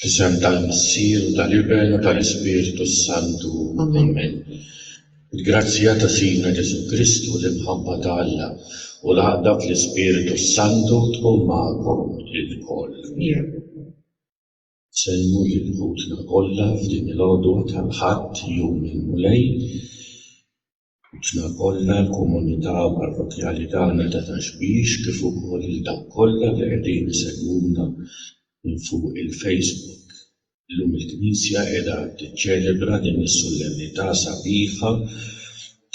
F'isem tal-Missier u tal-Iben u tal-Ispirtu s-Santu. Amen. Il-grazzja ta' Sidna Ġesù Kristu, l-imħabba ta' Alla, u l-għaqda fl-Ispirtu s-Santu tkun magħkom ilkoll. Nsellmu lil ħutna kollha f'din il-għodwa tal-Ħadd, Jum il-Mulej. Aħna kollha l-komunità parrokkjali tagħna ta' Ta' Xbiex kif ukoll lil dawk kollha li qegħdin isegwuna minn fuq il-Facebook. Illum il-Knisja qiegħda tiċċelebra din is-sullemnità sabiħa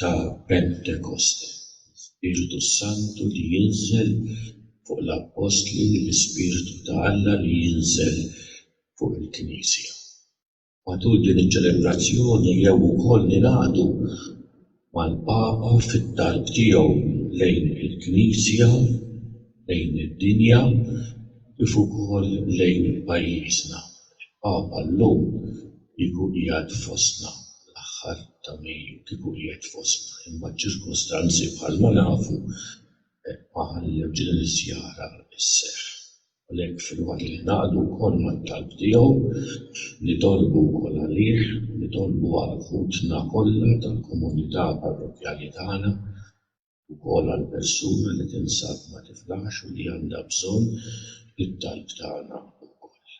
ta' Pentekoste, l-Ispirtu s-Santu li jinżel fuq l-Appostli, l-Ispirtu ta' Alla li jinżel fuq il-Knisja. Matul din iċ-ċelebrazzjoni jew ukoll ningħaqdu mal-Papa fit-talb tiegħu lejn il-Knisja, lejn id-dinja kif ukoll lejn pajjiżna. Il-Papa llum kieku qiegħed fostna l-aħħar ta' Mejju, kieku qiegħed fostna, imma ċ-ċirkustanzi bħalma nafu ma ħallewx din iż-żjara sseħħ. Għalhekk filwaqt li ningħaqdu wkoll mat-talb tiegħu, nitolbu wkoll għalih, nitolbu għal ħutna kollha tal-komunità parrokkjali tagħna, ukoll għal persuna li tinsab ma tiflaħx u li għandha bżonn it-talb tagħna wkoll.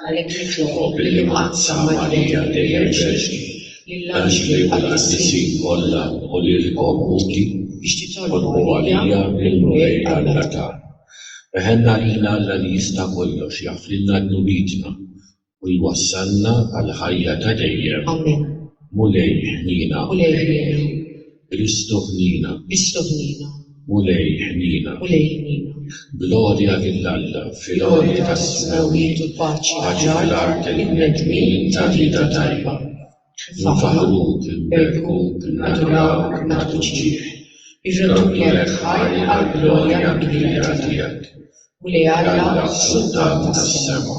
Għalhekk nitlob li ħadd sa Marija dejjem ġerrni lill-anġli u l-qaddisin kollha u lilkom uti biex titolbu għalija mill-Mulej Alla tagħna. Weħelna lil Alla li jista' kollox jaħfrilna dnubietna u jwassalna għall-ħajja ta' dejjem. Mulej ħniena. Kristu ħniena. Kristu ħniena. Mulej ħniena. Mulej ħniena. Glorja lil Alla fil-għoli tas-smewwiet u paċi fl-art lill-bnedmin ta' rieda tajba. Nfaħħruk, nberkuk, nadurawk, nagħtuk ġieħ. Irreduqlek ħajr għall-glorja kbira tiegħek. Mulej Alla, Sultan tas-sema.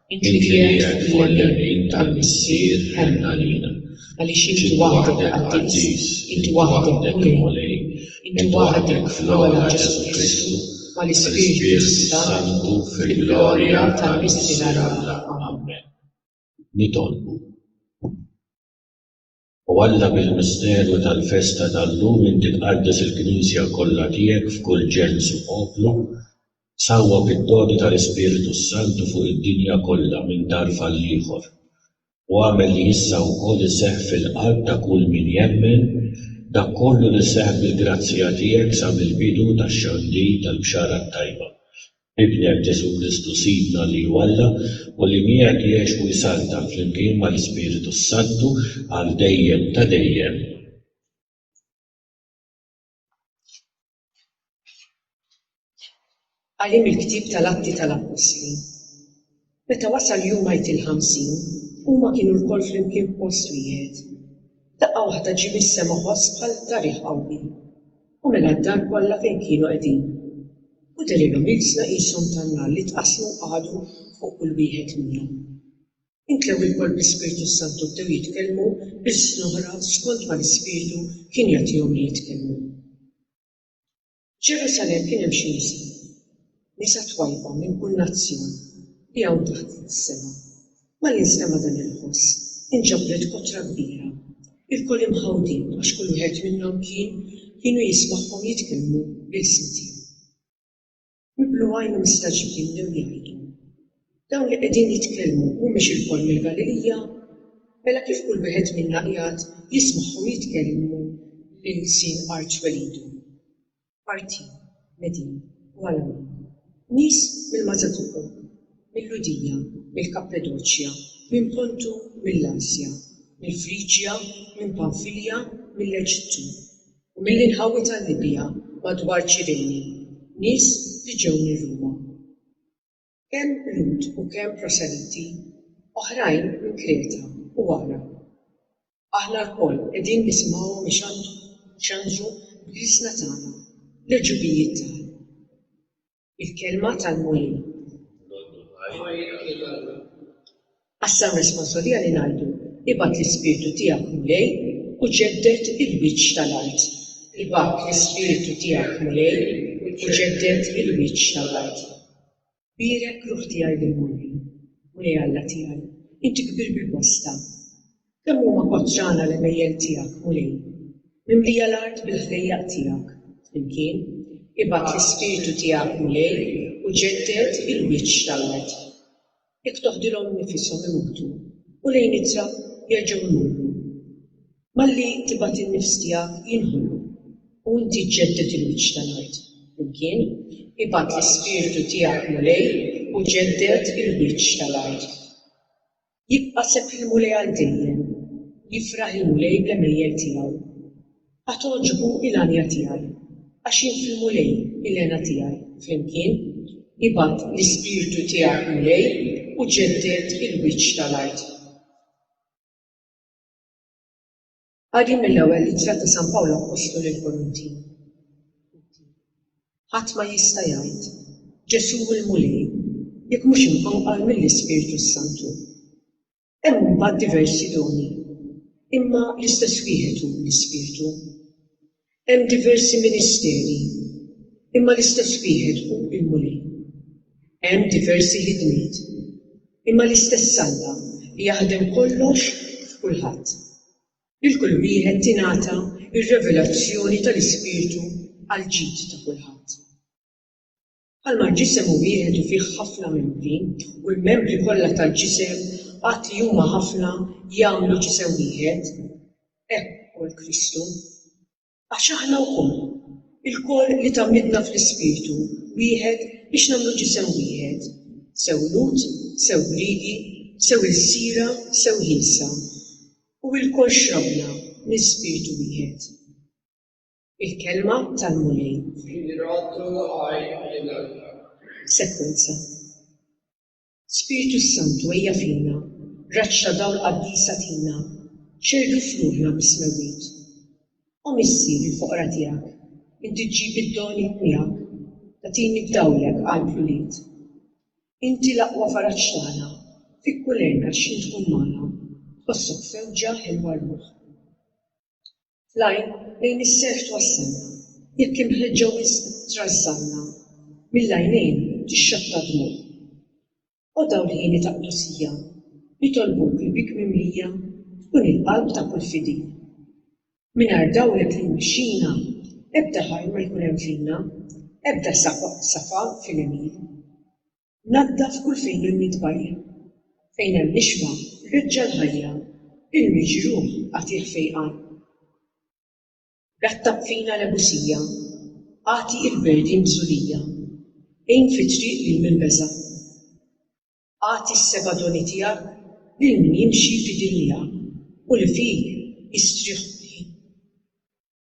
Inti qiegħed fuq il-lemin tal-Missier ħenn għalina, għaliex Inti waħdek Qaddis, Inti waħdek Mulej, Inti waħdek fl-ogħla Ġesù Kristu mal-Ispirtu s-Santu fil-glorja tal-Missier Alla. Ammen. Nitolbu. O Alla, bil-misteru tal-festa tal-lum inti tqaddes il-Knisja kollha tiegħek f'kull ġens u poplu, sawwab id-doni tal-Ispirtu s-Santu fuq id-dinja kollha minn darb għall-ieħor, u agħmel li issa wkoll iseħħ fil-qalb ta' kull min jemmen dak kollu li seħħ bil-grazzja tiegħek sa mill-bidu tax-xandir tal-Bxara t-Tajba, Ibnek, Ġesù Kristu Sidna li hu Alla u li miegħek jgħix u jsaltan flimkien mal-Ispiritu s-Santu għal dejjem ta' dejjem. Qari mill-Ktieb tal-Atti tal-Appostli Meta wasal jum Għid il-Ħamsin, huma kienu lkoll flimkien f'post wieħed. Daqqa waħda ġie mis-sema ħoss bħal ta' riħ qawwi, u mela d-dar kollha fejn kienu qegħdin. U dehrilhom ilsna qishom tan-nar li tqassmu u qagħdu fuq kull wieħed minnhom. Imtlew ilkoll bl-Ispirtu s-Santu bdew jitkellmu b'ilsn oħra skond ma l-Ispirtu kien jagħtihom li jitkellmu. F'Ġerusalemm kien hemm xi nisa, nisa twajba minn kull nazzjon, li hawn taħt is-sema. Malli nstema' dan il-ħoss, inġabret kotra kbira. Ilkoll imħawdin, għax kull wieħed minnhom kien, kienu jismagħhom jitkellmu bl-isem tiegħu. Miblughajnhom mistagħġbin bdew jgħidu, Dawn li qegħdin jitkellmu mhumiex ilkoll mill-Galilija? Mela kif kull wieħed minna qiegħed jismagħhom jitkellmu lil sin arċwelidu? Partin, Medin u Alamin, nies mill-Mażatuqu, mil-Lhudija, mill-Kappadoċja, minn Pontu u mill-Asja, mill-Friġja, minn Panfilja, mill-Eġittu, u mill-inħawi tal-Libja madwar Ċirene, nies li ġew minn Ruma. Kemm Lhud u kemm proseliti, oħrajn minn Kreta u Għarab, aħna lkoll qegħdin nisimgħuhom ixandru xandru b'liesna tagħna l-għġubijiet tal. Il-Kelma tal-Mulej. Lodwa Ħajr lil Alla. Qassam responsbli għalih ngħidu, Ibgħat l-Ispirtu tiegħek, Mulej, u ġedded il-wiċċ tal-art. Ibgħat l-Ispirtu tiegħek, Mulej, u ġedded il-wiċċ tal-art. Bierek, ruħ tiegħi lill-Mulej. Mulej Alla tiegħi, inti kbir bil-bosta. Kemm huma kotrana l-għemejjel tiegħek, Mulej! Mimlija l-art bil-ħdejjaq tiegħek. Flimkien, Ibgħat l-Ispirtu tiegħek, Mulej, u ġedded il-wiċċ tal-art. Jekk toħdilhom nifishom imutu u lejn ittra jerġgħu jmorru. Malli tibgħat in-nifs tiegħek jinħolu u inti ġġedded il-wiċċ tal-art. Flimkien, ibgħat l-Ispirtu tiegħek Mulej u ġedded il-wiċċ tal-art. Jibqa' sepp il-Mulej għal dejjem. Jifraħ il-Mulej bl-għemejjel tiegħu. Għad togħġbu il-għanja tiegħi, għax jien fil-Mulej il-hena tiegħi flimkien, nibgħat l-Ispirtu tiegħek Mulej u ġedded il-wiċċ tal-art. Qari mill-Ewwel Ittra ta' San Pawl Appostlu lill-Korintin Ħadd ma jista' jgħid, Ġesù hu l-Mulej, jekk mhux imqanqal mill-Ispirtu s-Santu. Hemm imbagħad diversi doni, imma l-istess wieħed hu l-Ispirtu. Hemm diversi ministeri, imma l-istess wieħed hu l-Mulej. Hemm diversi ħidmiet, imma l-istess Alla li jaħdem kollox f'kulħadd. Lil kull wieħed tingħata r-revelazzjoni tal-Ispirtu għall-ġid ta' kulħadd. Bħalma l-ġisem hu wieħed u fih ħafna membri, u l-membri kollha tal-ġisem, għad li huma ħafna, jagħmlu ġisem wieħed, hekk ukoll Kristu. Għax aħna wkoll, ilkoll li tgħammidna fl-Ispirtu wieħed biex nagħmlu ġisem wieħed, sew Lhud, sew Griegi, sew ilsira, sew ħielsa, u ilkoll xrabna minn Spirtu wieħed. Il-kelma tal-Mulej. Sekwenza. Spirtu s-Santu ejja fina, raġġ ta' dawl qaddis agħtina, xerdu f'ruħna mis-smewwiet. O Missier il-foqra tiegħek, inti ġġib id-doni miegħek, tagħtini b'dawlek qalb l-ulied. Inti l-aqwa faraġ tagħna, fik kull għerna x'ħin tkun magħna, tħossok f'fewġa ħelwa r-ruħ. Tlajn lejn is-serħ twassalna, jekk imħeġġa wisq trażżanna, mill-għajnejn tixxatta d-dmugħ. O dawrieni ta' qdusija, nitolbuk li bik mimlija tkun il-qalb ta' kull fidil. Mingħajr dawrek li jmexxina, ebda ħajr ma jkun hemm fina, ebda safa fil-għemil. Naddaf kull fejn hemm it-tbajjel. Fejn hemm l-ishma, reġġa' l-ħajja. Il-miġruh, agħtih fejqan. Rattab fina l-ebusija. Agħti il-berdin bżulija. Għin fit-triq lil min beża'. Agħti s-seba' doni tiegħek lil min jimxi fidil miegħek u li fik jistrieħ kulħin.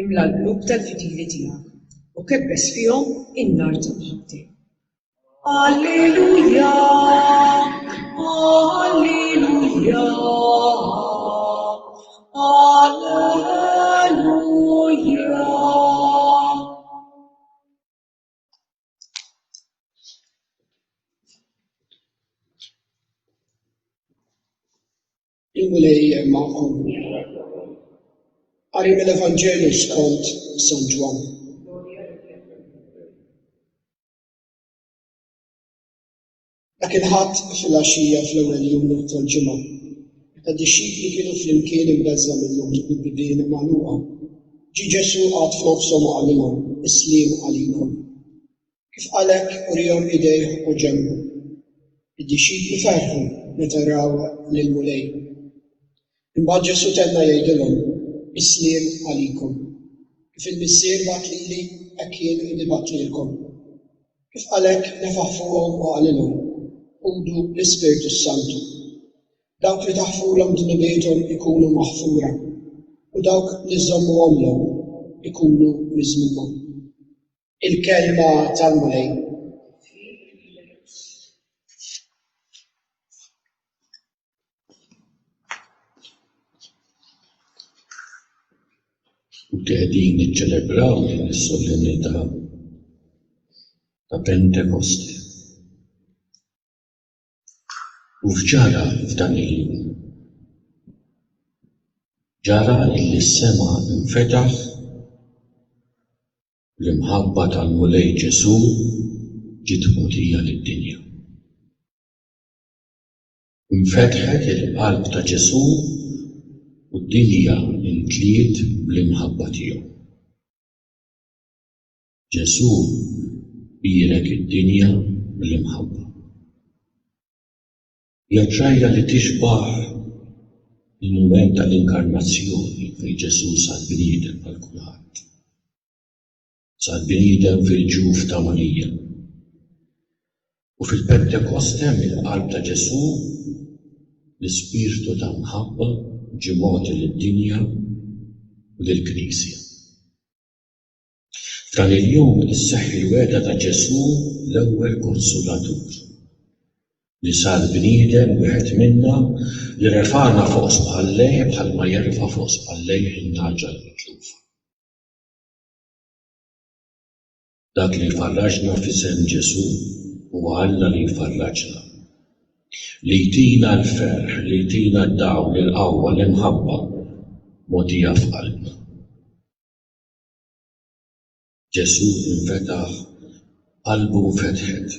imla l-qlub tal-fidili tiegħek, u kebbes fihom in-nar ta' mħabbtek. Alleluja, Alleluja, Il-Mulej magħkom. Qari mill-Evanġelju skont San Ġwann. Dak il-Ħadd filgħaxija fl-ewwel jum tal-ġimgħa, meta d-dixxipli kienu flimkien imbeżża' minnhom bil-bibien magħluqa, ġie Ġesù qagħad f'nofshom u qalilhom, Is-sliem għalikom. Kif qal hekk uriehom idejh u ġenbu. Id-dixxipli ferħu meta raw lill-Mulej. Imbagħad Ġesù tenna jgħidilhom, Is-sliem għalikom. Kif il-Missier bagħat lili, hekk jien nibgħat lilkom. Kif qal hekk nefaħ fuqhom u qalilhom, Ħudu l-Ispirtu s-Santu. Dawk li taħfulhom dnubiethom ikunu maħfura, u dawk li żżommuhomlhom ikunu miżmuma. Il-Kelma tal-Mulej. Qegħdin niċċelebraw din is-solennità ta' Pentekosti. U f'ġara f'dan il-jum. Ġara illi s-sema infetaħ L-imħabba tal-Mulej Ġesù ġiet mogħtija lid-dinja. Infetħet il-qalb ta' Ġesù u d-dinja mtliet bl-imħabba tiegħu. Ġesù bierek id-dinja bl-imħabba. Hija ġrajja li tixbah il-mument tal-Inkarnazzjoni fejn Ġesù sar bniedem bħal kulħadd. Sar bniedem fil-ġuf ta' Marija. U fil-Pentekoste mill-qalb ta' Ġesù l-ispirtu ta' mħabba ġie mogħti lid-dinja u lill-Knisja. F'dan il-jum isseħħ il-wegħda ta' Ġesù l-ewwel Konsolatur, li sar bniedem wieħed minna, li refagħna fuq spallejh bħalma jerfa' fuq spallejh in-nagħġa l-mitlufa. Dak li jfarraġna f'isem Ġesù huwa Alla li jfarraġna, li jtina l-ferħ, li jtina d-dawl, il-qawwa, l-imħabba mogħtija f'qalbna. Ġesù infetaħ, qalbu nfetħet.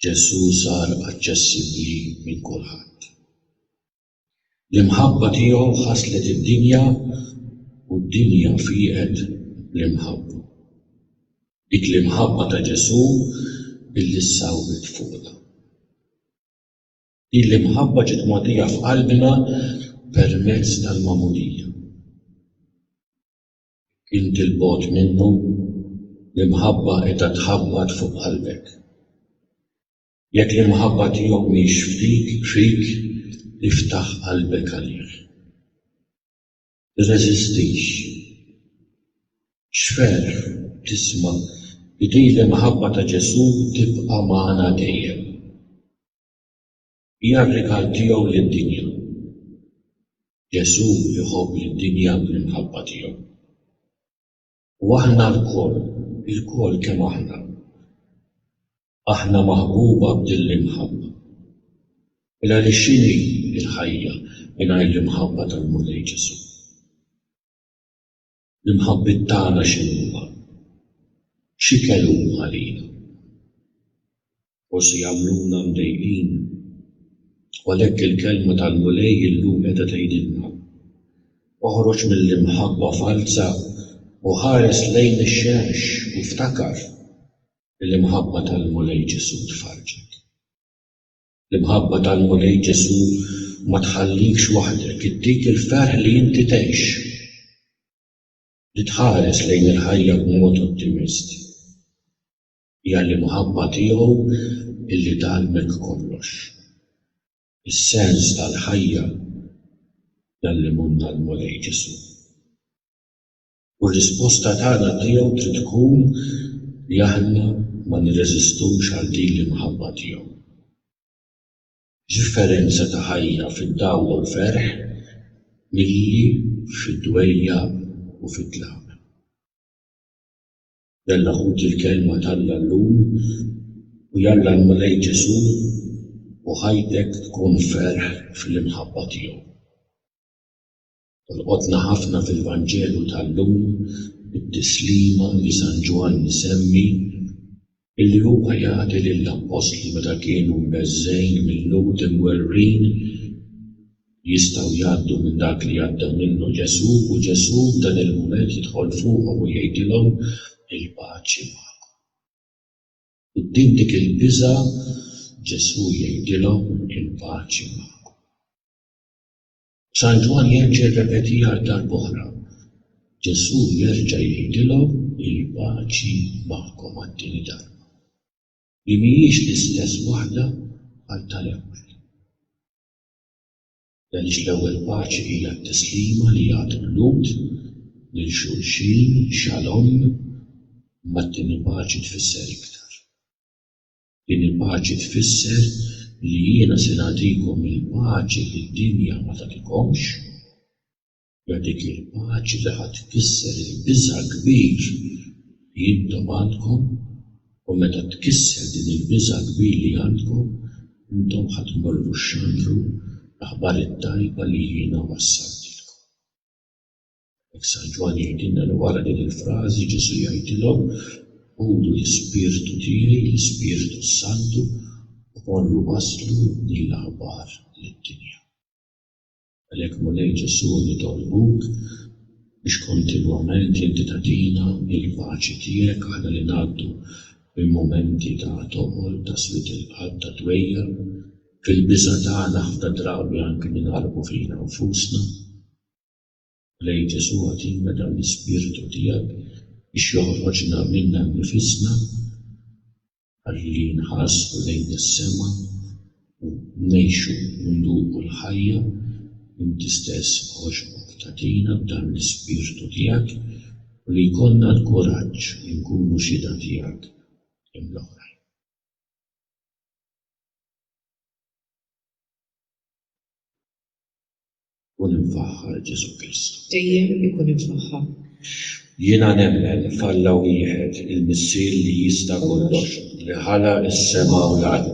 Ġesù sar aċċessibbli minn kulħadd. L-imħabba tiegħu ħasslet id-dinja u d-dinja fieqet bl-imħabba. Dik l-imħabba ta' Ġesù billi ssawwet fuqna. Hi l-imħabba ġiet mogħtija f'qalbna permezz tal-magħmudija. Jekk inti 'l bogħod minnu, l-imħabba qiegħda tħabbat fuq qalbek. Jekk l-imħabba tiegħu mhix f'dik, fik, iftaħ qalbek għalih. Tirreżistix. X'ferħ tisma' li din l-imħabba ta' Ġesù tibqa' magħna dejjem. Hija r-rigal tiegħu lid-dinja. Ġesù jħobb lid-dinja bl-imħabba tiegħu. U aħna lkoll, ilkoll kemm aħna, aħna maħbuba b'din l-imħabba. Mela li x'inhi l-ħajja mingħajr l-imħabba tal-Mulej Ġesù? L-imħabbiet tagħna x'inhuma? X'ikel huma għalina? Forsi jagħmluna mdejqin. U għalhekk il-Kelma tal-Mulej illum qiegħda tgħidilna, Oħroġ mill-imħabba falza u ħares lejn ix-xemx u ftakar li l-imħabba tal-Mulej Ġesù tfarrġek. L-imħabba tal-Mulej Ġesù ma tħallikx waħdek, ittik il-ferħ li inti tgħix, li tħares lejn il-ħajja b'mod ottimist. Hija l-imħabba tiegħu li tgħallmek kollox. Is-sens tal-ħajja jgħallimulna l-Mulej Ġesù. U r-risposta tagħna tiegħu trid tkun li aħna ma nirreżistux għal din l-imħabba tiegħu. X'differenza ta' ħajja fid-dawwa u ferħ milli fid-dwejjaq u fit-tlaq! Jalla ħuti l-Kelma t'Alla llum u jalla l-Mulej Ġesù u ħajtek tkun ferħ fl-imħabba tiegħu. Tolqotna ħafna fil-Vanġelu tal-lum it-tislima li San Ġwann isemmi illi huwa jagħti lill-Appostli meta kienu mbeżżgħin mill-Lhud imwerwrin li jistgħu jgħaddu minn dak li għadda minnu Ġesù u Ġesù f'dan il-mument jidħol fuqhom u jgħidilhom il-paċi magħkom. Quddiem dik il-biża' Ġesù jgħidilhom il-paċi magħkom. San Ġwann jerġa' jirrepeti għal darb'oħra, Ġesù jerġa' jgħidilhom il-paċi magħkom għat-tieni darba, li mhijiex l-istess waħda bħal tal-ewwel. Għaliex l-ewwel paċi hija t-tislima li jagħtu l-Lhud lil xulxin, xalom, imma t-tieni paċi tfisser iktar. Din il-paċi tfisser li jiena se nagħtikom il-paċi li d-dinja ma tagħtikomx. Hija dik il-paċi li ħa tkisser il-biża' kbir li intom għandkom, u meta tkisser din il-biża' kbir li għandkom, intom ħa tmorru xandru l-aħbar it-tajba li jiena wassaltilkom. Hekk San Ġwann jgħidilna li wara din il-frażi Ġesù jgħidilhom, Ħudu l-Ispirtu tiegħi, l-Ispirtu s-Santu, u morru wasslu din l-aħbar lid-dinja. Għalhekk Mulej Ġesù nitolbuk biex kontinwament inti tagħtina l-paċi tiegħek aħna li ngħaddu minn mumenti ta' toqol, ta' swied il-qalb, ta' dwejjaq. Fil-biża' tagħna ħafna drabi anki ninqalbu fina nfusna. Lej Ġesù agħtina dan l-ispirtu tiegħek biex joħroġna minna nnifisna ħalli nħarsu lejn is-sema u ngħixu u nduqu l-ħajja, inti stess għoxbok tagħtina b'dan l-ispirtu tiegħek u li jkollna l-kuraġġ li nkunu xhieda tiegħek lil oħrajn. Ikun imfaħħar Ġesù Kristu. Dejjem ikun imfaħħar. Jiena nemmen f'Alla wieħed, il-Missier li jista' kollox, li ħala s-sema u l-art,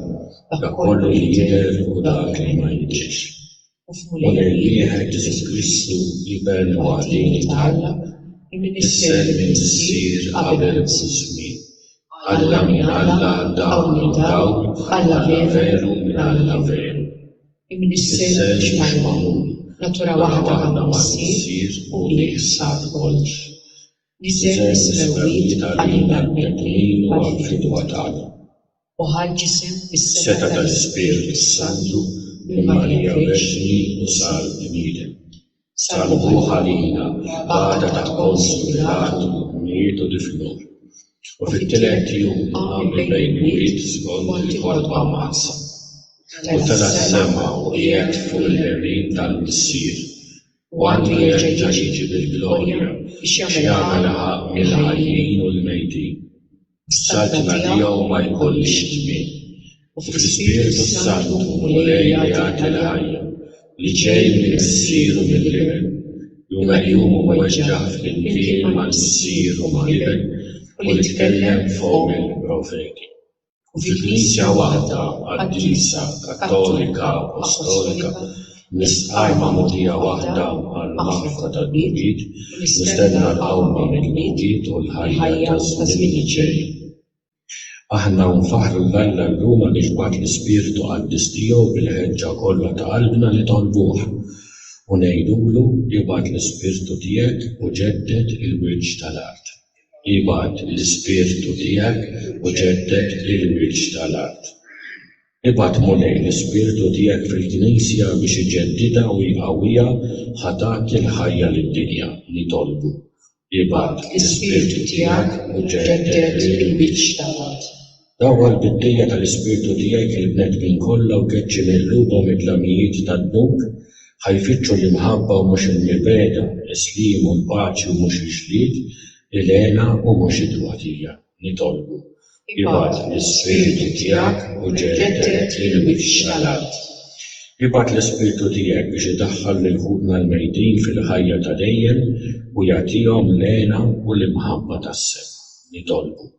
dak kollu li jidher u dak li ma jidhirx. U f'Mulej wieħed Ġesù Kristu, l-Iben waħdieni ta' Alla, imnissel mill-Missier qabel kull żmien. Alla minn Alla, dawl minn dawl, Alla veru minn Alla veru. Imnissel mhux magħmul, natura waħda għandu missier u bih sar kollox. Niżel is-smewwiet għalina l-bnedmin u għall-fidwa tagħna. U ħa l-ġisem bis-setgħa tal-Ispirtu s-Santu minn Marija Verġni u sar bniedem. salvuh għalina mill-qbada ta' Ponsju Pilatu u mietu difnuh, u fit-tielet jum qam mill-mejtwit skond il-kotba mqaddsa, u tela' s-sema u qiegħed fuq il-lemin tal-Missier, u għandu jerġa' jiġi bil-glorja biex jagħmel ħaqq mill-ħajjin u l-mejtin. Saltna tiegħu ma jkollhiex tmiem. U fl-Ispirtu s-Santu Mulej jagħti l-ħajja li ġej minn Missieru mill-Iben, jum għal jum u weġġaħ flimkien ma' Missier u ma' Iben u li tkellem b'fomm il-profeti. U fi Knisja waħda qaddisa, kattolika, apostolika, Biss qajma mogħdija waħda għall-magħrifa tal-Mewlid, mistenna l-qawma mill-mewt u l-ħajja taż-żmien li ġej. Aħna nfaħħru 'l Alla llum għaliex bagħat l-Ispirtu Qaddis tiegħu bil-ħeġġa kollha ta' qalbna nitolbuh, u ngħidulu, Ibgħat l-Ispirtu tiegħek u ġedded il-wiċċ tal-art. Ibgħat l-Ispirtu tiegħek u ġedded il-wiċċ tal-art. Ibgħat, Mulej, l-Ispirtu tiegħek fil-Knisja biex iġeddidha u jqawwiha ħa tagħti l-ħajja lid-dinja. Nitolbu, ibgħat l-Ispirtu tiegħek u ġedded il-wiċċ ta' mod. Dawwa l-biddejja tal-Ispirtu tiegħek fil-bnedmin kollha u keċċi minn qlubhom id-dlamijiet tad-dnub ħa jfittxu l-imħabba u mhux il-mibegħda, is-sliem u l-paċi u mhux il-ġlied, il-hena u mhux it-tbatija. Nitolbu, ibgħat l-Ispirtu tiegħek u ġedded l-wiċċ tal-art. Ibgħat l-Ispirtu tiegħek biex idaħħal lil ħutna l-mejtin fil-ħajja ta' dejjem u jagħtihom l-hena u l-imħabba tas-sema. Nitolbu,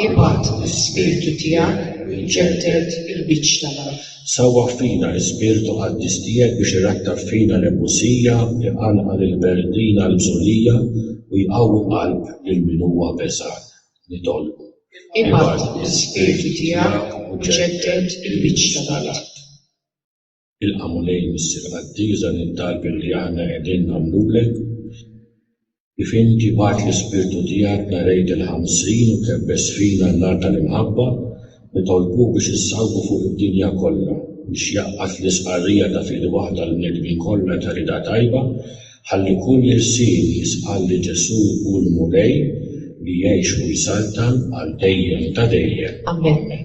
ibgħat l-Ispirtu tiegħek u ġedded il-wiċċ tal-art. Sawwah fina l-Ispirtu Qaddis Tiegħek biex irattaf fina l-ebusija, iqanqal il-berdin għall-bżulija u jqawwi l-qalb lil min huwa beżgħan. Nitolbu. Ibgħat l-Ispirtu Tiegħek u ġedded il-biċċa tal-art. Ilqa' Mulej Missier Qaddis dan it-talb li aħna qegħdin nagħmlulek. Kif inti bgħatt l-Ispirtu tiegħek nhar Għid il-Ħamsin u kebbest fina n-nar tal-imħabba li tolqtu biex issawwgu fuq id-dinja kollha, biex jgħaqqad l-istqarrija ta' fidi waħda għall-bnedmin kollha ta' rieda tajba, ħalli kull irsien jistqarr li Ġesù hu l-Mulej li jgħix u jsaltan għal dejjem ta' dejjem. Ammen.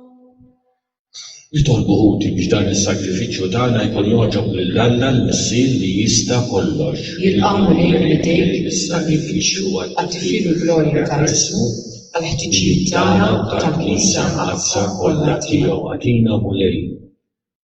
Jitolbu ħuti biex dan is-sagrifiċċju tagħna jkun jogħġob lil Alla l-Missier li jista' kollox. Jilqgħu lejn idejk is-sagrifiċċju għat-tifħir u l-glorja ta' ismu, għall-ħtiġijiet tagħna u tal-Knisja mqaddsa kollha tiegħu. Agħtina, Mulej.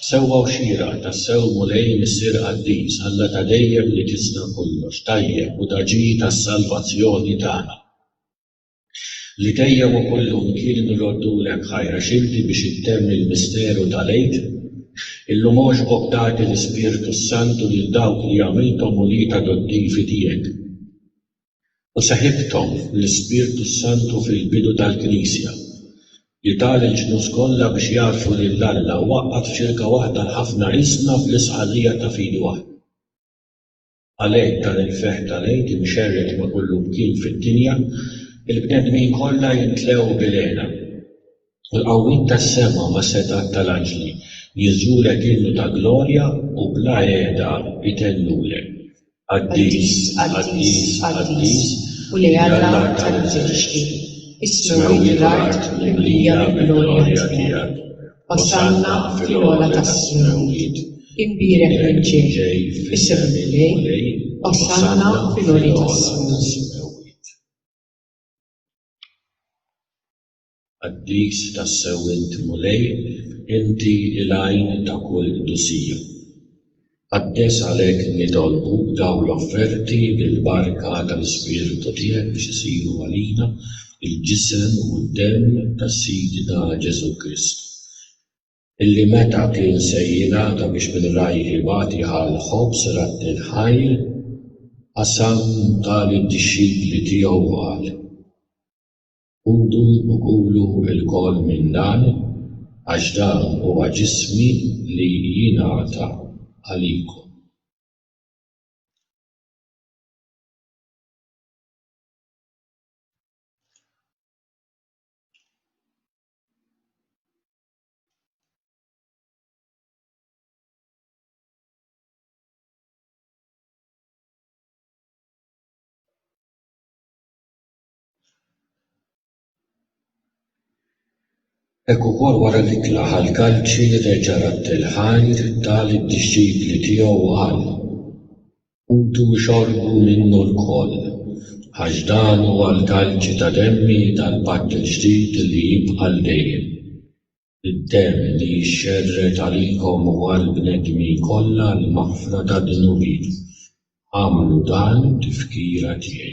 Sewwa u xieraq, tassew Mulej Missier Qaddis, Alla ta' dejjem li tista' kollox, tajjeb u daġi tas-salvazzjoni tagħna, li dejjem u kullum kien nroddulek ħajra x'inti biex ittemm il-misteru tal-Għid, illum għoġbok tagħti l-Ispirtu s-Santu lil dawk li għamilthom ulied adottivi tiegħek. u seħibthom fl-Ispirtu s-Santu fil-bidu tal-Knisja, li ta lill-ġnus kollha biex jagħrfu lil Alla u għaqqad f'xirka waħda l-ħafna riżna fl-istqarrija ta' fidi waħda. Għalhekk dan il-ferħ tal-Għid imxerred ma' kullimkien fid-dinja, il-bnedmin kollha jimtlew bil-hena. l-qawwiet tas-sema mas-setgħat tal-anġli, jiżżurek innu ta' glorja u bla qiegħda jtellulek, Qaddis, qaddis, qaddis, Mulej Alla tal-eżerċti, is-smewwiet u l-art mimlija mill-glorja tiegħek, Osanna fil-ogħla tas-smewwiet, imbierek min ġej f'isem il-Mulej, Osanna fil-għoli tas-smewwiet. Qaddis tassew int Mulej, inti l-għajn ta' kull qdusija. Qaddes għalhekk nitolbuk dawn l-offerti bil-barka tal-Ispirtu tiegħek biex isiru għalina l-ġisem u d-demm ta' Sidna Ġesù Kristu, illi meta kien se jingħata biex minn rajh ibati bħall-ħobż ratti l-ħajr, qasam ta' lid-dixxipli tiegħu u qal. Ħudu u kulu lkoll minn dan, għax dan huwa ġismi li jingħata għalikom. Hekk ukoll wara li tnaħa l-kalċi reġa' radd il-ħajr, ta lid-dixxipli tiegħu u qal, Ħudu u xorbu minnu lkoll, għax dan huwa l-kalċi ta' demmi tal-patt il-ġdid li jibqa' għal dejjem, id-demm li jixxerred għalikom u għall-bnedmin kollha għall-maħfra tad-dnubiet. Agħmlu dan tifkira tiegħi.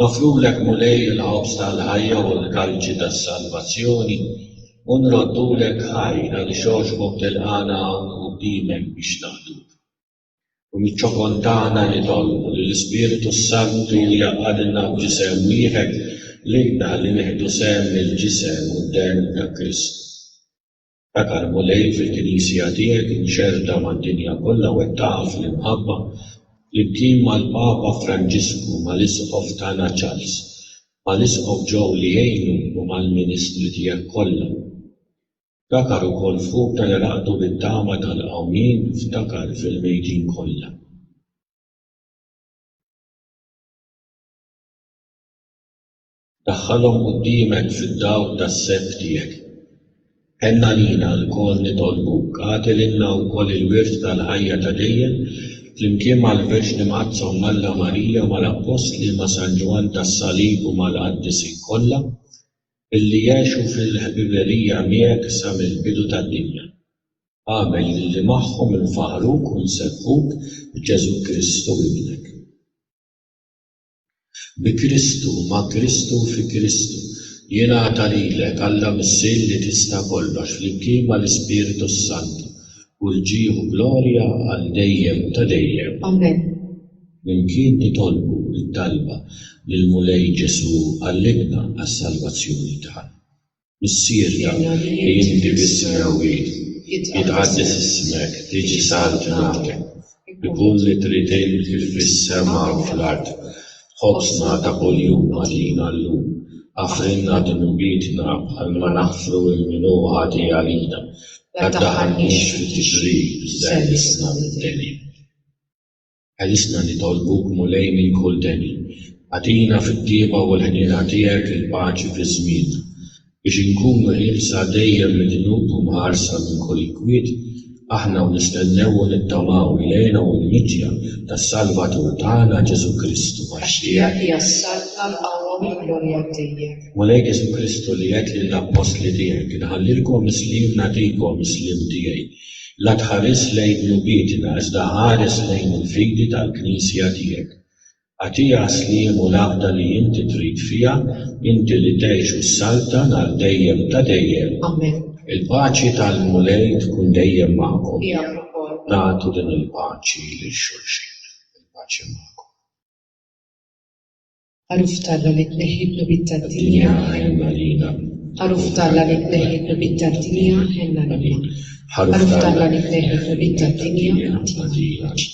Noffrulek, Mulej, il-ħobż tal-ħajja u l-kalċi tas-salvazzjoni, u nroddulek ħajr għaliex għoxbok tilqagħna hawn quddiemek biex naqduk. U miċ-ċokon tagħna nitolbu li l-Ispirtu s-Santu jgħaqqadilna f'ġisem wieħed lilna li nieħdu sehem mill-ġisem u d-demm ta' Kristu. Dak l-Mulej fil-Knisja tiegħek imxerrda mad-dinja kollha wettaqha fl-imħabba, flimkien mal-Papa Franġisku, mal-Isqof tagħna Charles, mal-Isqof Joe li jgħinu u mal-ministri tiegħek kollha. Ftakar ukoll fuqna li raqdu bit-tama tal-qawmien, ftakar fil-mejtin kollha. Daħħalhom quddiemek fid-dawl tas-sett tiegħek. Ħenn għalina lkoll nitolbuk, agħti lilna wkoll il-wirt tal-ħajja ta' dejjem, flimkien mal-Verġni Mqaddsa Omm Alla Marija, mal-Appostli, ma' San Ġwann tas-Salib u mal-Qaddisin kollha, billi jgħixu fil-ħbiberija miegħek sa mill-bidu tad-dinja. Agħmel lilli magħhom infaħħruk u nsebbħuk b'Ġesù Kristu Ibnek. Bi Kristu, ma' Kristu u fi Kristu, jingħata lilek, Alla Missier li tista' kollox, flimkien mal-Ispirtu s-Santu, kull ġieħ u glorja għal dejjem ta' dejjem. Amen. Flimkien nitolbu t-talba lill-Mulej Ġesù għallimna għas-salvazzjoni tagħna. Missierna, li inti bis-smewwi, jitqaddes ismek, tiġi saltnatek, ikun li trid inti fis-sema u fl-art. Ħobżna ta' kuljum agħtina llum. Aħfrilna dnubietna bħalma naħfru lil min hu ħati għalina. La ddaħħalniex fit-tixrid, żellisna mid-deni. Għajjisna nitolbuk Mulej minn kull deni. Agħtina fit-tjieba u l-ħniena tiegħek il-paċi fiż-żmien, biex inkunu ħielsa dejjem mid-dnub u mħarsa minn kull inkwiet, aħna u nistennew u nittamaw il-għena u l-miġja tas-Salvatur tagħna Ġesù Kristu. Għax tiegħek hija s-saltna, l-qawwa u l-glorja dejjem. Mulej Ġesù Kristu li għedt lill-appostli tiegħek, inħallilkom is-sliem nagħtikom, is-sliem tiegħi. La tħares lejn lubietna iżda ħares lejn il-fidi tal-Knisja tiegħek. Agħtiha s-sliem u l-għaqda li inti trid fiha, inti li tgħix u ssaltan għal dejjem ta' dejjem. Amen. Il-paċi tal-Mulej tkun dejjem magħkom. Miegħek ukoll. Nagħtu din il-paċi lil xulxin. Il-paċi magħkom. Għaruf t'Alla li tneħħi d-dnubiet tad-dinja, ħenna lilna. Għaruf t'Alla li tneħħi d-dnubiet tad-dinja, ħenna lilna. Għaruf t'Alla li tneħħi d-dnubiet tad-dinja, għatina l-paċi.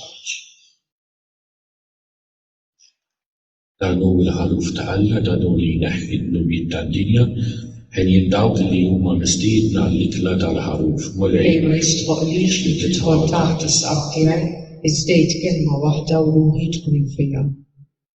Dan hu l-għaruf ta' Alla, dan hu li jneħħi d-dnubiet tad-dinja. Għenien dawk li huma mistiedna għall-ikla tal-għaruf. Mulej! Ej ma jistħoqqlix li tidħol taħt is-saqaf tiegħi, iżdejt kelma waħda u ruħi tkun fija.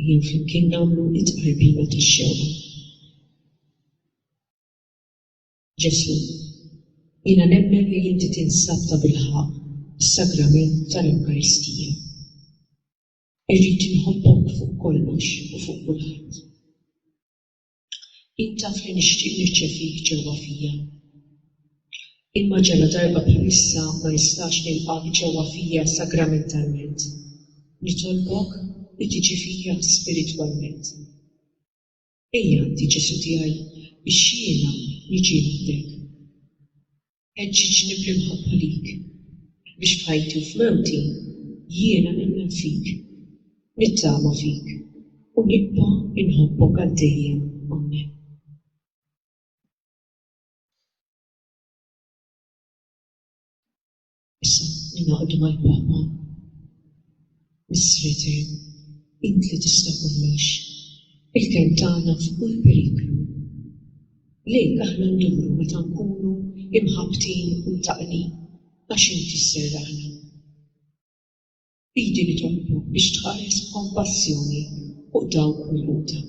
Ejjew flimkien nagħmlu t-tqarbina tax-xewqa. Ġesù, jiena nemmen li inti tinsab tabilħaqq fis-Sagrament tal-Ewkaristija. Irrid inħobbok fuq kollox u fuq kulħadd. Int taf li nixtieq nirċevik ġewwa fija. Imma ġaladarba bħalissa ma nistax nilqgħek ġewwa fija sagramentalment, nitolbok li tiġi fija spiritwalment. Ejja għandi, Ġesù tiegħi, biex jiena niġi għandek. Ħeġġiġni bl-imħabba lik, biex f'ħajti u f'mewti jiena nemmen fik, nittama fik u nibqa' inħobbok għal dejjem. Amen. Issa ningħaqdu mal-Papa. Missri etern, int li tista' kollox, il-kenn tagħna f'kull periklu. Lejk aħna nduru meta nkunu imħabbtin u mtaqqnin għax int isserraħna. B'idi nitolbok biex tħares b'kompassjoni fuq dawk milquta.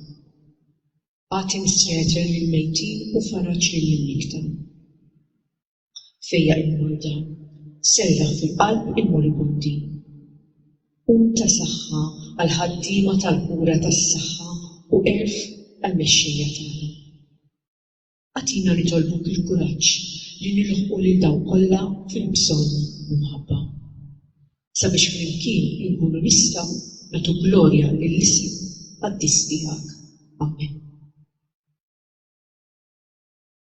Agħti Missri etern lill-mejtin u faraġ lill-imnikkta. Fejjaq il-morda, serraħ fil-qalb il-moribundi. Kun ta' saħħa għall-ħaddiema tal-kura tas-saħħa u għerf għall-mexxejja tagħna. Agħtina nitolbuk il-kuraġġ li nilħqu lil dawk kollha fil-bżonn b'imħabba. Sabiex flimkien inkunu nistgħu nagħtu glorja lill-isem qaddis tiegħek. Amen.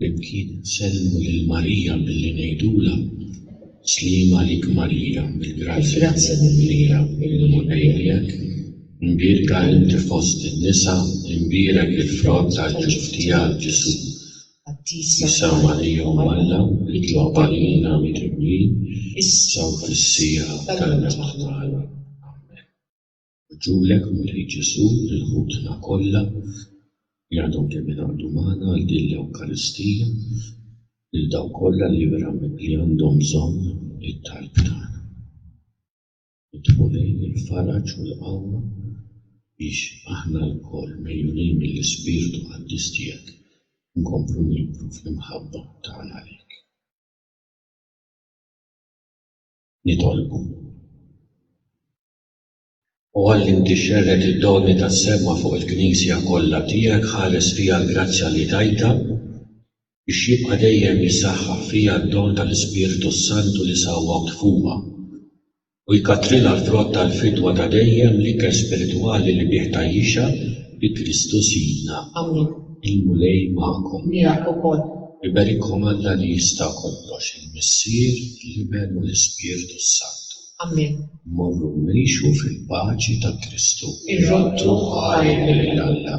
Flimkien insellmu lil Marija billi ngħidulha, Sliem għalik Marija, bil-grazzja mimlija, il-Mulej miegħek, imbierka inti fost in-nisa, imbierek il-frott tal-ġuf tiegħek, Ġesù. Jisgħu għalihom Alla jitlob għalina midnubin issa u fis-siegħa tal-mewt tagħna. Amen. Rġulek, Mulej Ġesù, lil ħutna kollha li għadhom kemm ingħaqdu magħna għal din l-Ewkaristija, lil dawk kollha li verament li għandhom bżonn it-talb tagħna. Nitolbu lejn il-faraġ u l-qawwa biex aħna lkoll, megħjunin mill-Ispirtu Qaddis tiegħek, inkomplu nikbru fl-imħabba tagħna lejk. Nitolbu. O Alla li inti xxerred id-doni tas-sema fuq il-Knisja kollha tiegħek, ħares fiha l-grazzja li tajtha biex jibqa' dejjem jissaħħaħ fija d-don tal-Ispirtu s-Santu li sawwawt fuqha, u jkattrilha l-frott tal-fidwa ta' dejjem, l-ikel spiritwali li bih tgħajjixha, bi Kristu Sidna. Amen. Il-Mulej magħkom. Miegħek ukoll. Iberikkom Alla li jista' kollox, il-Missier, l-Iben u l-Ispirtu s-Santu. Amen. Morru u ngħixu fil-paċi ta' Kristu. Irroddu ħajr lil Alla.